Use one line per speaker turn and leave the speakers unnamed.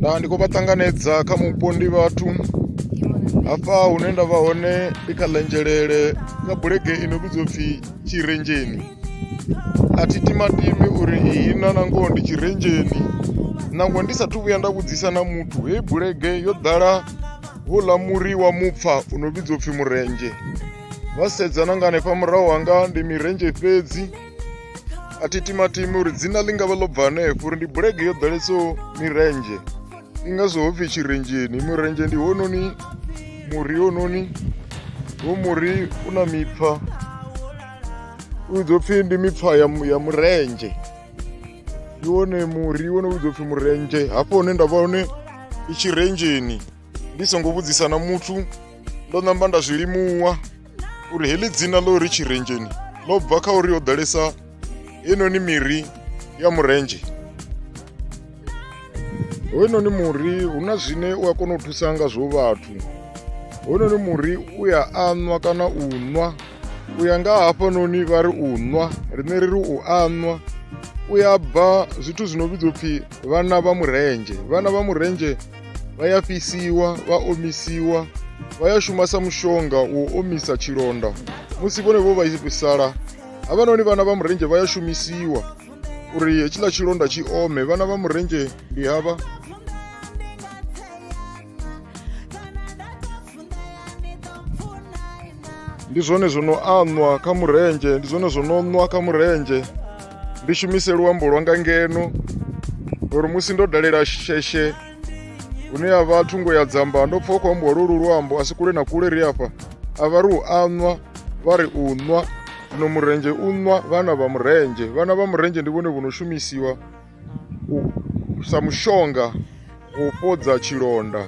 na ndi khou vha ṱanganedza kha mupo ndi vhathu hafha hune nda vha hone ndi kha ḽenzhelele kha bulege ino vhidzwa pfhi tshirenzheni a thi timatimi uri iyi na nangoho ndi tshirenzheni nangwe ndi sathu vhuya nda vhudzisa na muthu hei bulege yo ḓala houḽa muri wa mupfa u no vhidzwa upfhi murendzhe vha sedza na nga hanefha murahu hanga ndi mirendzhe fhedzi a thi timatimi uri dzina ḽi nga vha ḽo bva hanefho uri ndi bulege yo ḓalesaho mirendzhe ndi ngazwo ho pfhi tshirenzheni murendzhe ndi hononi muri hononi ho muri u na mipfa u ḓo pfhi ndi mipfa ya murendzhe ndi wone muri wo no vhudzwa upfhi murendzhe hafho hune nda vha hone i tshirenzheni ndi songo vhudzisa na muthu ndo namba nda zwi limuwa uri heḽi dzina ḽo ri tshirenzheni ḽo bva kha uri ho ḓalesa heinoni miri ya murendzhe hoyunoni muri hu na zwine u a kona u thusa ngazwo vhathu hoyunoni muri u ya anwa kana u nwa u ya nga hafhanoni vha ri u nwa riṋe ri ri u anwa u ya bva zwithu zwi no vhidzwa upfhi vhana vha murendzhe vhana vha murendzhe vha ya fhisiwa vha omisiwa vha ya shuma sa mushonga u omisa tshilonda musi vhone vho vhaisala havhanoni vhana vha murendzhe vha ya shumisiwa uri hetshiḽa tshilonda tshi ome vhana vha murendzhe ndi havha ndi zwone zwo no anwa kha murendzhe ndi zwone zwo no nwa kha murendzhe ndi shumise luambo lwanga ngeno ngori musi ndo dalela sheshe hune ya vha thungo ya dzamba ndo pfha u khou ambiwa lwolu luambo a si kule na kule ri afha a vha ri u anwa vha ri u nwa zwino murendzhe u nwa vhana vha murendzhe vhana vha murendzhe ndi vhone vho no shumisiwa sa mushonga u fhodza tshilonda